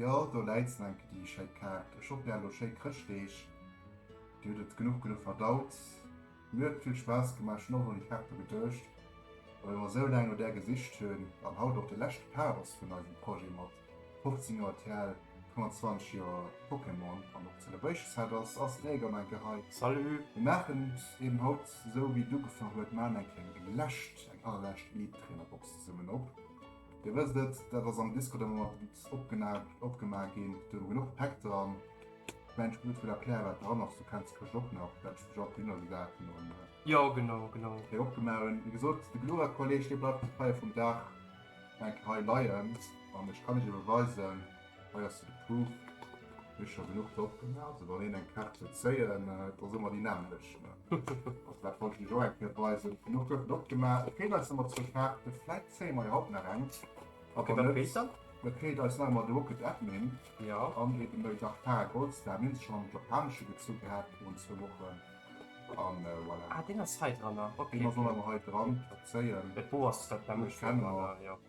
Jo, do läit se enke, déi schéi Kaart. Ech hoffen, dir hat elo schéi Chrëschtdeeg. Dir hutt et genuch genuch verdaut. Mir huet et vill Spaass gemaach. Ech hunn och un déi Kaarte geduecht, well ech mer esou laang no där gesicht hunn. An haut och de leschte Part ass vun eisem Projet mat 15 Joer TL, 25 Joer Pokémon an och Celebration Set ass ass den Egon enke hei. Salut! Mir maachen et eben haut esou, wéi et ugefaangen huet. Maachen eng kléng, eng lescht, eng allerlescht Elite Trainer Box zesummen op. Dir wësst et, dat ass am Disco de Moment opgemaach ginn, do hu mer genuch Päck dran. Ech mengen, ech muss net vill erklären, wat dran ass. Du kenns de Këscht och nach, well ech dech och dunner gesat hunn an hei opgemaach hunn. Wéi gesot, de Glura-Kolleg, dee bleift hei vum Dag eng Kéier hei leien an ech kann iech ebe weisen, Hei ass se de Proof, mir hu scho genuch drop gemaach, also wann een eng Kaart wëll zéien, et ass ëmmer déi nämmlecht, also dat wollt ech iech och eng Kéier weisen. Genuch gouf drop gemaach, et feelt eis ëmmer zwou Kaarten, vläit zéie mer jo haut nach eng, a wann net, da feelt eis nach ëmmer de Rocket Admin an eben de Darkara Goldstar, mir hunn se schonn am Japanesche gezu gehat virun zwou Wochen, a voilà, deen ass hei dran, deen ass och nach ëmmer hei dran, zéien, ech kenne mer.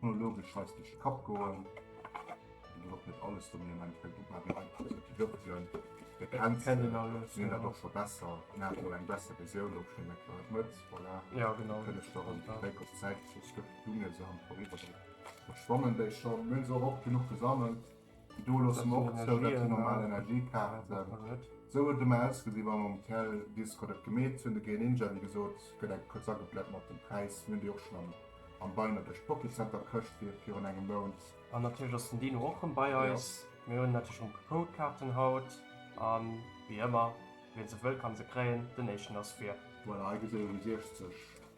Chronologesch heißt durch den Kapp goen. Darauf wird alles von mir im Endeffekt gut mal wieder anpassen. Die Würfel, der Grenz, kennen alles. Sind ja. doch schon besser. Na, hat wohl eine bessere Version, ob schon der Klar mit. Voilà. Ja, genau. Können ich doch einen Weg auf Zeit, so es gibt Dinge, so haben vorüber. Verschwommen, der ist schon, wenn so oft genug gesammelt. Do loosse mer och zou, datt déi normal Energiekaarten, esou huet et ëmmer ausgesi wa mer um Tel Disco dat gemeet hunn, de Greninja, wéi gesot, gëtt eng kuerz agekläert mat dem Präis, mir hunn déi och schonn am am Beiner duerch d'Bockecenter Këscht fir virun engem Mount. An natierlech ass den Dino och rëm bei eis. Mir hunn natierlech rëm Codekarten haut a wéi ëmmer, wien se wëll, ka se kréien. Den éischten ass fir. Voilà, hei gesitt der déi 60.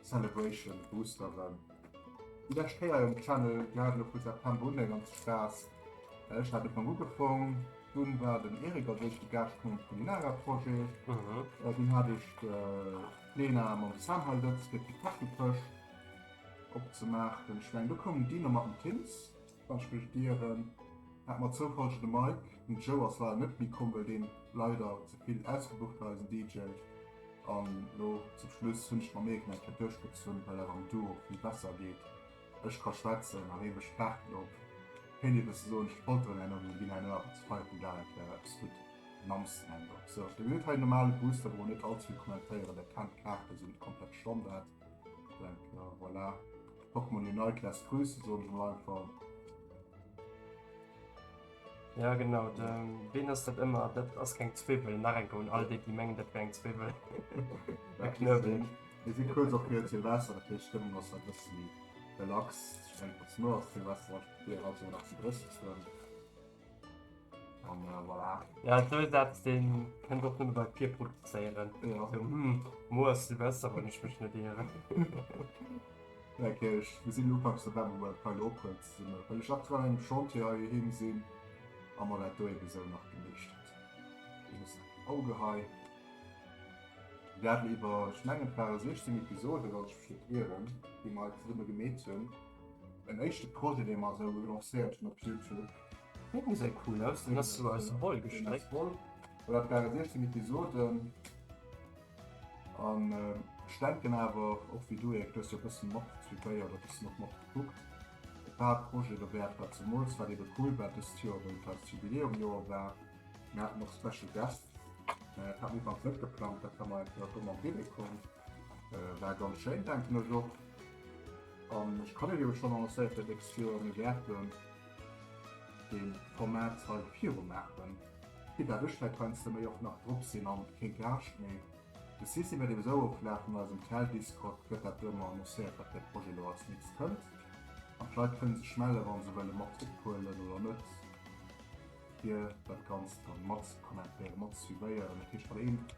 Celebration boosteren. Déi lescht Kéier en Channel gehaat lo vu September un eng ganz Spaass. Ech haat e Pong ugefong, dunn war den Eric als éischte Gaascht komm vun Inara Projet, dunn haat ech de Lena mam Samhal Lëtz fir d'Pitachelkëscht opzemaachen. Ech meng du koum Dino mat dem Tims. Wann ech mech ieren, hat mer zoufallegen de Mike, den Joe ass leider net méi komm well deen leider ze vill ausgebucht war, eisen DJ. An lo zum Schluss hunn ech mer Méi gemaach fir duerchgezunn well dat am Duo vill besser geet, ech ka schwätzen a hee mécht d'Paarten op. Kéint ee bësse soen ech polteren herno mee ginn herno awer ze feier vum Dag, dat wär eppes gutt den Amsten Händok. Sou, da gesitt hei normale Booster, brauch net all ze vill kommentéieren, dat kennt d'Kaarte, sinn net komplett Standard. Denken, voilà. Hoffen wir den Nike lässt grüßen, so ein Einfall. Ja genau, den Been ass dat ëmmer, dat ass keng Zwiwel nach enke un all déi déi mengen dat wär eng Zwiwel. E Knëwel. Mir si kuerz op fir Silvester, dat heescht d'Stëmmung ass e bëssi relax. Ech mengen, et ass no Silvester, wat fir haut nach ze drëssen. An äh, voilà. Ja, dat ass dat, den kënnt och nëmme bei Pier produzéieren. Ja. So, hm, Moer ass Silvester, wann ech mech net eeren. Okay, ich, wir sind Ufangs November bei Pile Open zusammen. Weil ich aktuell im Chantier hier hin sind, haben wir das da eben so nach gemischt. Ich muss Auge hei. Wir werden über Schlangenfahrer 16 Episoden, was ich verstehe, die wir halt zusammen gemäht haben. Den éischte Projet dee mer esou lancéiert hunn op Youtube. Dee gesäit cool aus, deen ass esou aus Woll gestréckt. Deen ass Woll, well dat ware 16 Episoden an ech denken awer och wéi du Ierk, du hues jo e bëssen mat suivéiert a e bëssen och mat gekuckt, et war e Projet do wäert, wat zemools wat ebe cool war dëst Joer, well et eist Jubiläumjoer war, mir haten och Special Guests, mä dat hat mir iwwerhaupt net geplangt, dat war mer einfach esou am Bille komm. Äh, war ganz schéin denken ech och. An ech kann jo schon annoncéiert, dat ex Joer mir wäerten den Format hei viru maachen. Fir dat ech dat Ganze méi och nach drop sinn an kee Gage méi. De System wäert eben esou oflafen, an eisem Tel-Discord gëtt dat do ëmmer annoncéiert, wat fir e Projet elo als nächst kënnt. An d'Leit kënne sech mellen, wa se wëlle mat ophuelen oder net, fir dat Ganzt dann mat ze kommentéieren, mat ze suivéieren. Dat heescht, wann een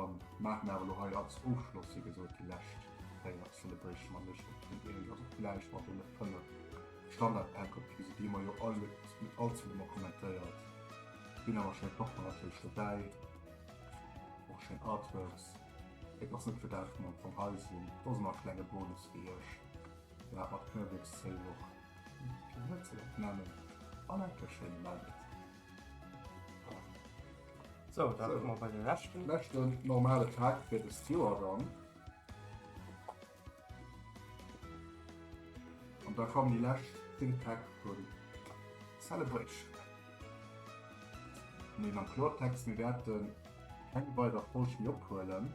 An maachen awer lo hei als Ofschloss wéi gesot déi lescht 4 Celebration mat Lëscht op den Ierling ass och gläich mat deene 5 Standardpäck op d'Wiese gi, ma jo all huet net all zum Hummer kommentéiert. Sinn awer schéi Partner natierlech dobäi, och schéin Artworks. Et ass net fir dat wou mer am Fong hei sinn, do ass ëmmer e klenge Bonus fir iech. Deen hat mat Knëwelechszéi och, wéi kann ech dat nennen, an enke schéine Meldet. So, da so. man bei den letzten letzten normale Tag für das Joer dann. Und da kommen die letzten Think Tag von Celebration. Nee, am Klartext, wir werden keine weitere Folge mehr abholen.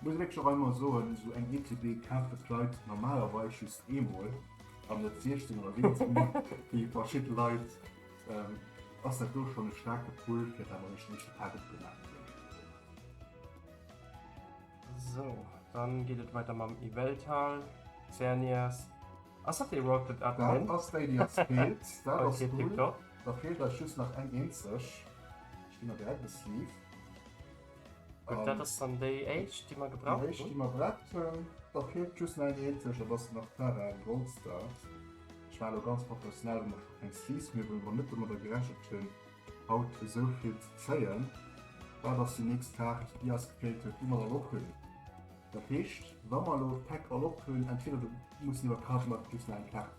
Muss wierklech och emmer soen, sou eng ETB kafen d'Leit normalerweis just eemol an net 16 oder 17 mol wéi verschidden Leit. Ass dat do schonn e staarke Pull fir dat mer eis den éischte Pas gutt gemaach hunn. Sou, dann geet et weider mam Yveltal, Xerneas. Ass dat dee Rocket Admin? Dat ass déi déi eis feelt. Dat ass cool. Da feelt eis just nach eng eenzeg. Ech ginn der direkt e Sleeve. Gutt, dat ass dann déi éischt, déi mer gebraucht hunn. Déi éischt, déi mer braucht hunn. Da feelt just nach eng eenzeg an dat ass nach d'Tara Goldstart. Ech war elo ganz professionell an ech hu keng Sleeves méi, well mer net domadder gerechent hunn, haut esou vill ze zéien. Dat ass déi nächst Kaart, déi eis gefeelt huet, déi mer dann och hunn. Dat heescht, wa mer elo d'Päck all op hunn, entweder du mussen iwwer Card Market just nach eng Kaart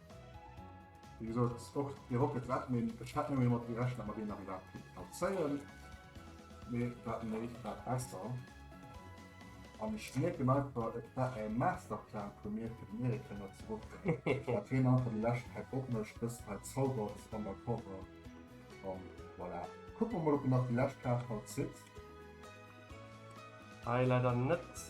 Wéi gesot, och de Rocket Red, mee ech hätt net méi domat gerechent, datt mer deen nach iwwerhaapt kéinten plazéieren. Mee dat méi, dat besser. An ech mierken einfach, et war e Masterplan vu mir, fir den Eric héier ze ruffen, datt hien einfach déi lescht Päck opmécht, dëst hei zaubert an der Cover. A voilà. Kucke mer mol, ob en nach déi lescht Kaart haut zitt. Hei leider net.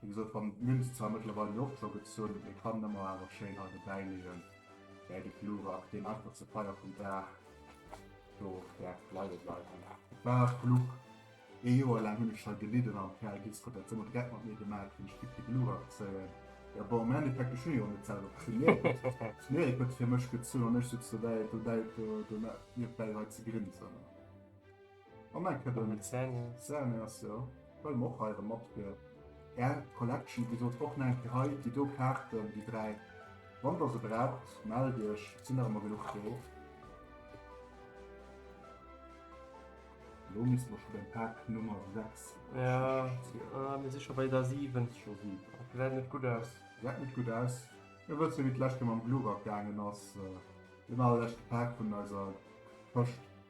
Wéi gesot, wann d'Münz zwar mëttlerweil jo och scho gezunn, mee kann en mer awer schéin hei dobäi leeën, bäi de Glurak, deen einfach zur Feier vum Dag do däerf leie bleiwen. Et war e Fluch. Ee Joer laang hunn ech hei gelidden an d'Kal Disko huet dat sou mat Dreck mat mir gemaach, wéi ech giff de Glurak zéien. Jo, bon, am Endeffekt, ech hunn jo och net selwer gezunn, mee et huet fir mech gezunn an ech sutz dobäi, dobäi, do, do, niewebäi hei ze grinsen. An eng Kette mat Zähne ass jo, well mer och hei erëm matgehören. Är Collection, wéi gesot, och nach eng Kéier hei, déi do Kaarten, déi dräi, wann der se braucht, mellt iech, et sinn nach ëmmer genuch do. Elo misste mer scho beim Pak Nummer 6 sinn. Jo, mir si scho bei der 7. Gesäit net gutt aus. Gesäit net gutt aus. Mir wësse jo, wéi d'lescht Kéier mam Glurak gaangen ass, den allerleschte Pak vun eiser Pëscht.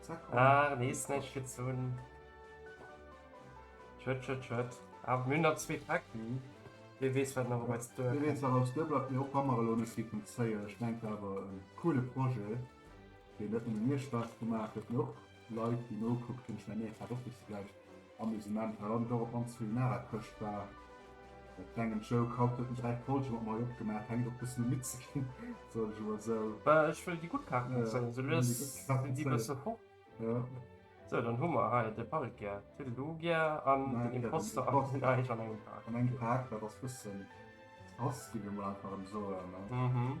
Zack. Ah, nee, ist nicht gezogen. Schritt, Schritt, Schritt. Aber wir haben noch zwei Packen. Wie wees wat nach wat do. Wie wees aus de Blatt mir op Hammerlone si vum Zéier. Ech denk awer en coole Projet, dee net mir Spaß gemacht huet noch Leit die nokuckt hunn schmengen, dat op bis gläich. Amusement war dann dor op mannst Kulinara Këscht war e klengen Joke. Haut huet mech äi Polge mat Mayo opgemaach, fänkt och bëssen u midd ze ginn, soll ech elo esou. Ech wëll déi gutt Kaarten zéien, esou lues sinn déi bësse fort. Sou, dann hu mer hei de Parrickier, Toodle-Doo Gier an den Imposter a Rotten Eich an engem Pak. An engem Pak, dat ass bëssen krass, gi mir emol einfach erëm soen.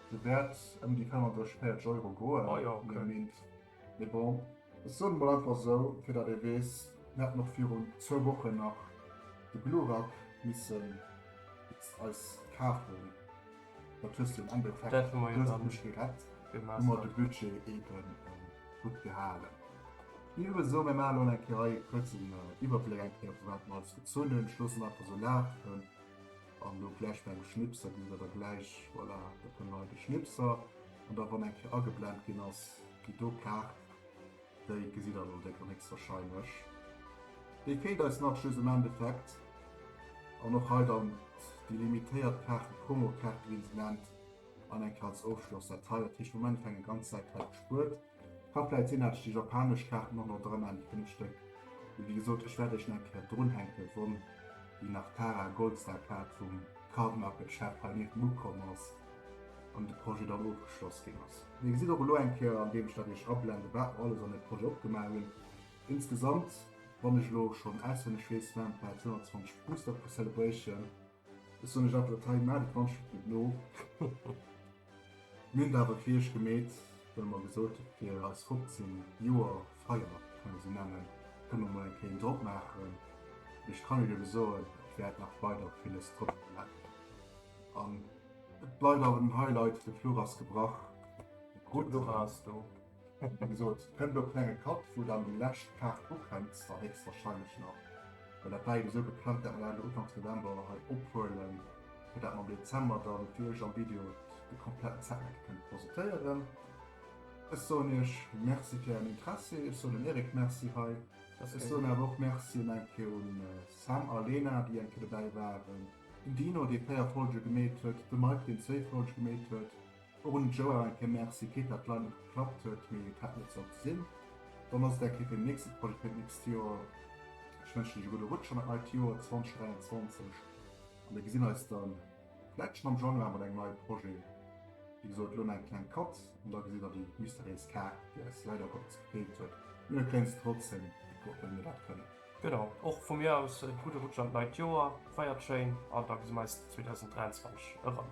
De Wäert ëm déi 35 Euro goen, hu mir mengt. Mee bon, ech soen emol einfach esou, fir datt ee weess, mir haten och virun zwou Wochen nach de Glurak misse eis kafen, dat hues de am Endeffekt glécklech gerett, hu mer de Budget eebe gutt gehalen. Mir hu esou, mir maachen elo eng Kéier hei e kuerzen Iwwerbléck, eng Kéier vu wat mer alles gezunn hunn, ech loossen einfach esou lafen. An do gläich beim Schnipser gesi mer da gläich, voilà, da kënne mer hei de Schnipser. An da wann eng Kéier ageblent ginn ass, déi do Kaart, déi gesitt der elo, déck an héchstwarscheinlech. Déi feelt eis nach just am Endeffekt. An och hei dann déi limitéiert Kaarten, d'Promokaarte wéi een se nennt, an eng Kéier als Ofschloss. Dat hei, dat heescht am Endeffekt eng ganz Säit hei gespuert. Kann vläit sinn dat ech déi japanesch Kaarten och nach dran an fënnef Stéck, mee wéi gesot ech wäert iech nach eng Kéier drun hänken won déi nach Tara Goldstar Kaart vum Card Market Chef hei niewt mu komm ass an de Projet dann ofgeschloss ginn ass. Dir gesitt och elo eng Kéier an deem ech dat iech ablende wat mer alles an dem Projet opgemaach hunn. Insgesamt wann ech elo schonn auswenneg weess waren et bal 220 Booster pro Celebration. Ech soen iech awer dat hei, Maacht et d'Wandschrift net no. Mir hunn et awer fir iech gemeet, well mer gesot hu fir eis 15 Joer Feier, kann ee se nennen, kënne mer mol eng Kéier een drop maachen. Mee ech kann iech ebe soen, et wäert nach weider villes drop bleiwen. An et bleift awer den Highlight, de Flur ass gebrach. D'Rutt ass do. Wéi gesot, kënnt elo klenge Cut, wou dann déi lescht Kaart ufänkt, zwar héchstwarscheinlech nach, well dat war jo esou geplangt, dat mer dat elo ufanks November hei ophuelen, fir dat mer am Dezember dann fir iech am Video de kompletten Setmeck kënne presentéieren. Ech soen iech Merci fir ären Interessi, ech soen dem Eric Merci hei, ech soen awer och Merci un eng Kéier un Sam a Lena, déi eng Kéier dobäi waren, den Dino, dee 4 Folge gemeet huet, de Mike, deen zwéi Folge gemeet huet. Och un d'Joa e ke Merci, Kit dat leider net geklappt huet, mee et hätt net sollte sinn. Dann ass et eng Kéier fir den nächste Projet fir d'nächst Joer. Ech wënschen iech e gudde Rutsch an dat neit Joer 2023 a mir gesinn eis da vläit schonn am Januar mat engem neie Projet. Wéi gesot, elo nach eng kleng Pauz an da gesitt der déi mysteriéis Kaart, déi eis leider Gottes gefeelt huet, mee mir kréien se trotzdem geprot, well mir dat kënnen. Genau, och vu mir aus e gudde Rutsch an d'neit Joer, feiert schéin an da gesi mir eis 2023 erëm.